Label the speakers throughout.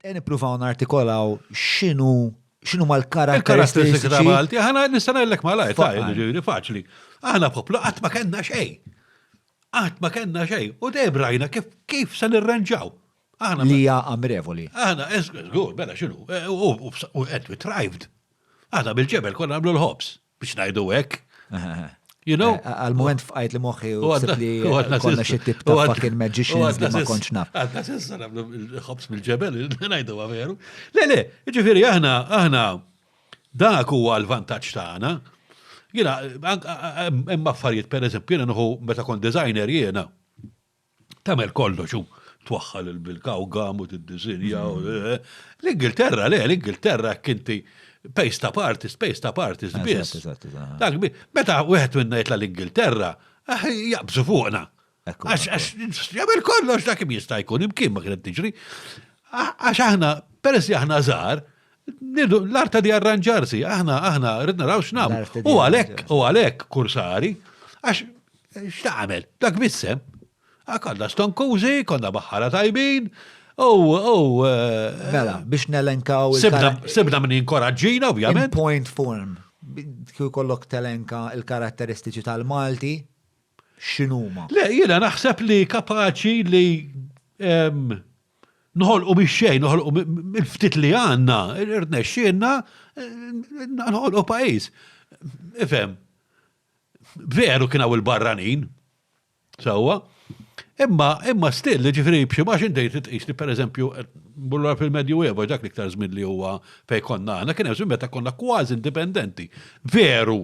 Speaker 1: Ejja nippruvaw nartikolaw x'inhu xinu ma l-karatteristiċi
Speaker 2: ta' Malti, ħana
Speaker 1: nistanellek
Speaker 2: ma lajt, ġiri faċli. Aħna poplu qatt ma kellna xej. Qatt ma kellna xej. U dejjem rajna kif kif se nirranġaw. Aħna li hija amrevoli.
Speaker 1: Aħna żgur,
Speaker 2: bella xinu, u qed we thrived. Aħna bil-ġebel konna nagħmlu l-ħobs. Biex ngħidu hekk. You know? Eh, għal-moment fqajt li
Speaker 1: moħħi u għasib li konna xie tip ta'
Speaker 2: fucking
Speaker 1: magicians li ma konċ naf. Għadna sissa għamlu
Speaker 2: il-ħobs mill-ġebel, najdu għaveru. Le, le, ġifiri, aħna, aħna, dak huwa l-vantaġġ tagħna. Jena, hemm affarijiet, per eżempju, jena nħu meta kon designer jena. tagħmel kollox u twaħħal il-bilka u gam u tiddisinja. L-Ingilterra, le, l-Ingilterra kinti pace ta' partis, pace ta' partis biss. Meta wieħed minna jitla l-Ingilterra, ah, jaqbżu fuqna. Għax jagħmel kollox dak jista' jkun imkien ma kienet tiġri. Għax aħna, peress li aħna żgħar, L-art ta' di arranġarsi, aħna, aħna, rrid naraw x'nam. U għalek, u għalek, kursari, għax x'tagħmel, dak bissem. Għakalla stonkużi, konna baħħara tajbin, u, u. Eh,
Speaker 1: mela, biex nelenkaw. Sibna minn
Speaker 2: inkoraġġina, ovvjament. Point
Speaker 1: form, kju kollok telenka il-karatteristiċi tal-Malti, x'inhuma? Le, jiena
Speaker 2: naħseb li kapaċi li noħolqu mix-xejn, noħolqu mill-ftit li għandna, irnexxielna noħolqu pajjiż. Ifhem, veru kien hawn il-barranin, sewwa, imma imma still ġifieri b'xi ma xi dejt tqis li pereżempju bullura fil-Medju Eva dak l-iktar żmien li huwa fejn konna aħna kien hemm żmien meta konna kważi indipendenti. Veru,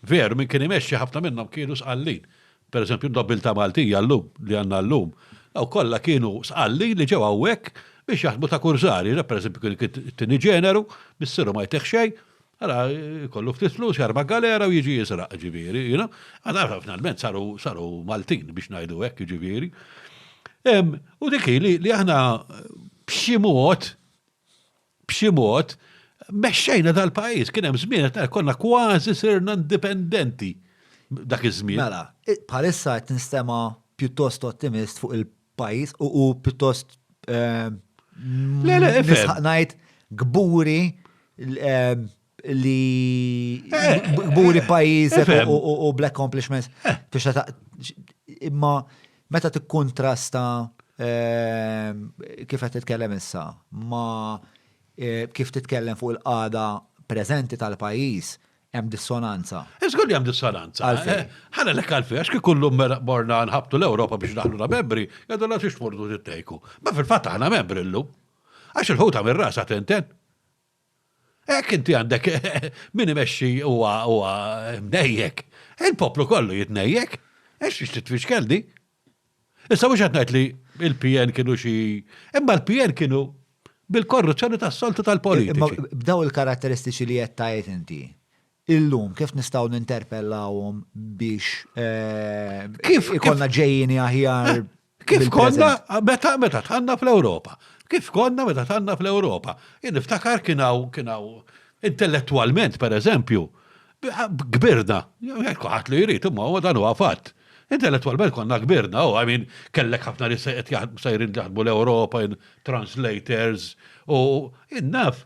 Speaker 2: Veru, min kien imexxi ħafna minnhom kienu sqallin. Pereżempju, n-nobbiltà Maltija llum, li għandna llum, dawk kollha kienu sqallin li ġew hawnhekk biex jaħdmu ta' kursari. Re, pereżempju, kien it-tieni ġeneru, missieru ma jtih xejn, ara jkollu ftit flus, jarma' galera u jiġi jisraq, jiġifieri, you know. Ara, finalment saru, saru Maltin, biex ngħidu hekk, jiġifieri. U dik hi li aħna b'xi mod, B'xi mod, mexxejna dal-pajjiż. Kien hemm żmien qed ngħid konna kważi sirna indipendenti dak iż-żmien. Mela, bħalissa
Speaker 1: qed nistema' pjuttost ottimist fuq il-pajjiż u pjuttost nistħaq ngħid kburi li gburi pajjiż u black accomplishments. Imma meta tikkontrasta ehm, kif qed titkellem issa ma eh, kif titkellem fuq il-qada preżenti tal-pajjiż, hemm dissonanza. Iżgur li hemm
Speaker 2: dissonanza. Eh, ħana lek għalfi, għax kif kullum mela morna nħabtu l-Ewropa biex naħlu la membri, għadu la tix tmurdu tittejku. Ma fil-fatt aħna membri llum. Għax il-ħuta mir-rasa tenten. Hekk inti għandek min imexxi huwa huwa mnejjek. Il-poplu kollu jitnejjek. Għax xiex titfixkel di. Issa mhux qed ngħid li il-PN kienu xi imma l-PN kienu bil-korruzzjoni tas-soltu tal-politiċi. B'daw il-karatteristiċi
Speaker 1: li qed tgħid inti, illum, kif nistgħu ninterpellawhom biex ikollna ġejjieni aħjar? Kif
Speaker 2: konna meta tħanna fl-Ewropa? Kif konna meta tħanna fl-Ewropa? Jien niftakar kien hawn intellettwalment, pereżempju, kbirna, kulħadd li jrid, imma huwa dan huwa fatt. Intellettwalment konna kbirna, u I mean kellek ħafna nies qed sejrin jaħdmu l-Ewropa, translators, u naf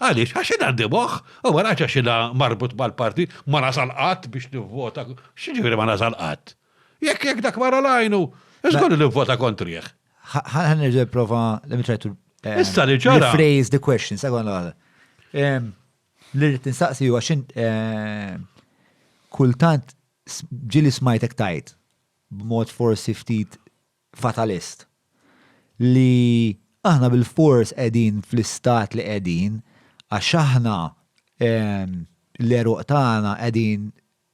Speaker 2: Għaliex? Għax jien għandi moħħ, u ma ngħidx għax jiena marbut mal-partit, ma nasal qatt biex nivvota, x'jiġifieri ma nasal qatt? Jekk jekk dak mara l-għajnu, żgur li nivvota kontrih. Ħa nerġa'
Speaker 1: nipprova let me try to eh, Issa li ġara. Rephrase the
Speaker 2: question, segon l
Speaker 1: Li rrid nistaqsi huwa x'int eh, kultant ġili smajtek tajt b'mod forsi ftit fatalist, li aħna bilfors qegħdin fl-istat li qegħdin għax aħna l-għeruq tagħna qegħdin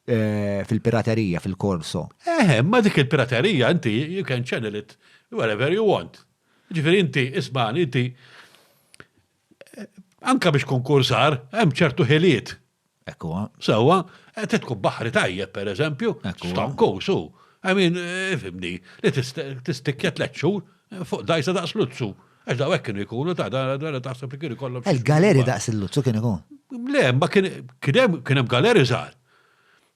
Speaker 1: fil-piraterija fil-korso. Eh, imma dik
Speaker 2: il-piraterija inti you can channel it wherever you want. Jiġifieri inti ismagħni inti Anka biex konkursar,
Speaker 1: hemm
Speaker 2: ċertu ħiliet. Ekku. Sewa, qed tkun baħri tajjeb, per eżempju, stonku, su. I mean, eh, fimni, li tistikja tlet xhur eh, fuq dajsa daqs luzzu. Għax daw hekk kienu jkunu ta' da taħseb li kienu kollhom. Il-galeri daqs il-luzzu
Speaker 1: kienu jkun. Le, ma
Speaker 2: kien hemm galeri żgħar.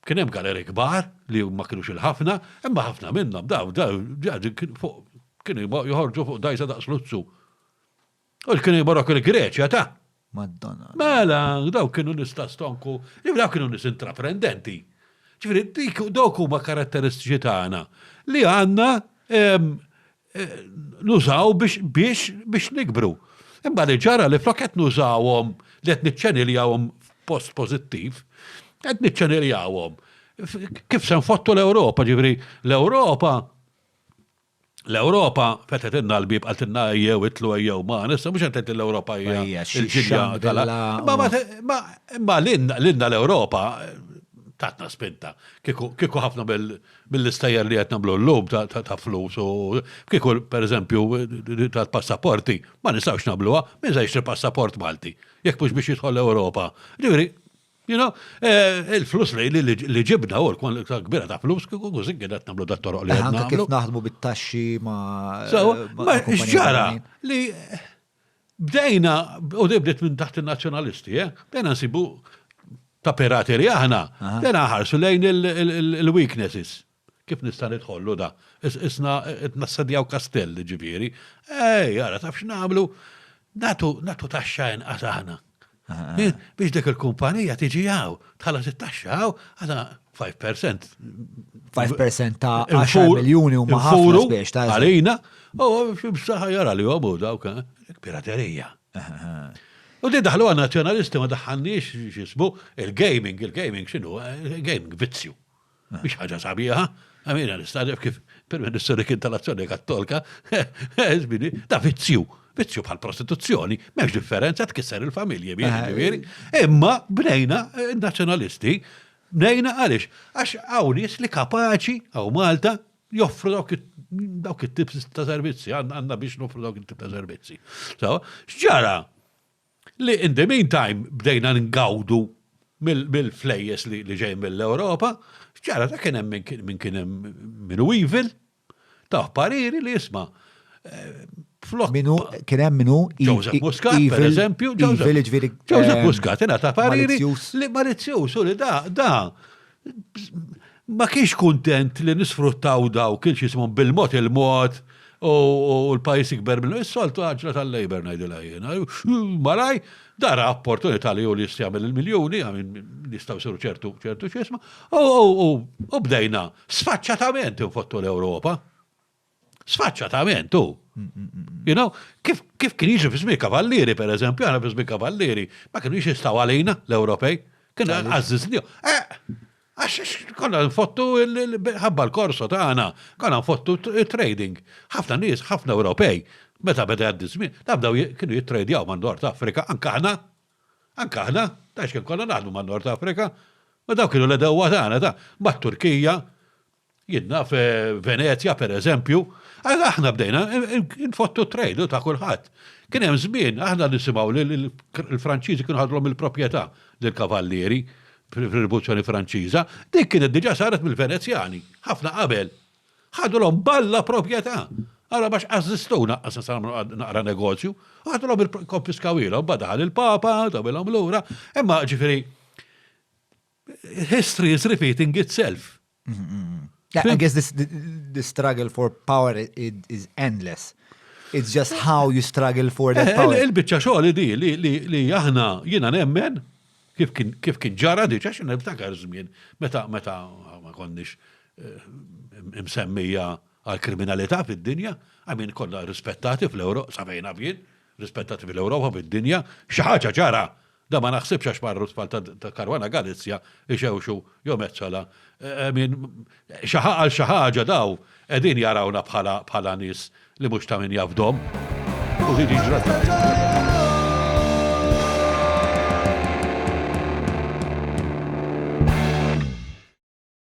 Speaker 2: Kien hemm galeri kbar li ma kienux il-ħafna, imma ħafna minnhom daw daw kienu joħorġu fuq dajsa daqs luzzu. U kienu jiborok il-Greċja ta' Madonna.
Speaker 1: Mela, daw
Speaker 2: kienu nista stonku, daw kienu nis intraprendenti. Ġifiri, dik dawk huma karatteristiċi tagħna li għandna ehm, eh, nużaw biex biex biex nikbru. Imma li ġara li flok qed nużawhom li qed niċċeniljawhom post pożittiv, qed niċċeniljawhom. Kif se nfottu l-Ewropa, ġifiri, l-Ewropa L-Ewropa fetħetilna l-bieb qaltilna ejjew itlu ejjew magħna, issa mhux qed tgħid l-Ewropa hija l-ġilja tal Imma lilna l-Ewropa tatna spinta. Kieku ħafna mill-istejjer li qed nagħmlu llum ta' flus u kieku pereżempju tal-passaporti ma nistgħux nagħmluha, min se jixtri passaport Malti jekk mhux biex jidħol l-Ewropa. Ġifieri You know, eh, il-flus li li ġibna u l-kwan l-iktar kbira ta' flus kiku kużin kien qed nagħmlu dat-toroq li għedna. Kif naħdmu bit-taxxi
Speaker 1: ma'
Speaker 2: ġara li bdejna u li bdiet minn taħt il-nazzjonalisti, eh, bdejna nsibu ta' pirateri aħna, bdejna ħarsu lejn il-weaknesses. Kif nista' nidħollu da? Qisna qed nassedjaw kastell, jiġifieri. Ej, ara taf x'nagħmlu? Nagħtu nagħtu taxxa inqas aħna. Biex dik il-kumpanija tiġi hawn, tħallas it-taxxa hawn, għadha 5%. 5% ta' 10
Speaker 1: miljuni huma ħafna spiex ta' għalina, u
Speaker 2: x'ibsaħħa jara li huma dawk, piraterija. U di daħlu għan nazzjonalisti ma daħħalniex x'ismu il-gaming, il-gaming x'inhu, gaming vizzju. Biex ħaġa sabiħa, għamina nistadef kif per-ministru li kien tal-azzjoni kattolka, zbini, ta' vizzju, vizzju bħal prostituzzjoni, memx differenza tkisser il-familji, biex Imma bnejna eh, nazjonalisti, bnejna għalix, għax għawnis li kapaċi għaw Malta joffru dawk it-tip ta' servizzi, għanna biex noffru dawk it-tip ta' servizzi. So, xġara? li in the meantime bdejna ngawdu mill-flejjes li ġejjin mill-Ewropa, ġara ta' kien hemm min kien hemm min hu evil, tah pariri li isma'
Speaker 1: flok. Min hu kien hemm min hu Joseph Muscat,
Speaker 2: per eżempju, Joseph Muscat ingħata pariri li malizzjuż u li da da ma kienx kuntent li nisfruttaw daw kienx jismhom bil-mod il-mod u l-pajis ikber minnu. Is-soltu għagġla tal-Labor ngħidilha jiena. Malaj, dara opportunità li juli jistjamil il-miljuni, għamin jistaw siru ċertu ċertu xisma, u bdejna sfaċċatament infottu l-Ewropa. Sfaċċatament, u. You know, kif, kif kien jiġi fi żmien kavallieri, per eżempju, għana fi żmien kavallieri, ma kienu jistaw għalina l-Ewropej, kienu għazzizli. Eh, għax konna nfottu ħabba l-korso ta' għana, konna nfottu trading. ħafna nies, ħafna Ewropej, meta beda għaddi żmien, nabdaw kienu jittradjaw man Nord Afrika, anka ħna, anka ħna, ta' xkien konna naħdu man Nord Afrika, ma daw kienu l-edewa tagħna ta' mat-Turkija, Jien naf Venezja, per eżempju, aħna bdejna nfottu trade ta' kulħadd. Kien hemm żmien aħna nisimgħu li l-Franċiżi kienu ħadulhom il-proprjetà lill-kavallieri fir-Rivoluzzjoni Franċiża, dik kienet diġà saret mill-Venezjani, ħafna qabel. Ħadulhom b'alla proprjetà. Allura ma x'ażżistgħu naqqas nista' nagħmlu naqra negozju, u ħadulhom ikkonfiskawhielhom, imbagħad daħal il-Papa, tawilhom lura, imma ġifieri History is repeating itself. Yeah,
Speaker 1: I guess this the, the struggle for power is, is endless. It's just how you struggle for that eh, power. Il-bicċa xogħol di li,
Speaker 2: li, li aħna jiena nemmen kif kien kif kien ġara diġa xi niftakar żmien meta meta ma konniex eh, msemmija għal kriminalità fid-dinja, għamin kollha rispettati fl-Ewropa, sabajna fien, rispettati fil-Ewropa fid-dinja, xi ħaġa ġara Dan ma naħsibx għax marru t-tfal ta' Caruana Galizia ixewxu jew Metsola. I mean, għal xi ħaġa daw qegħdin jarawna bħala nies li mhux ta' min jafdhom. U din hi ġrata.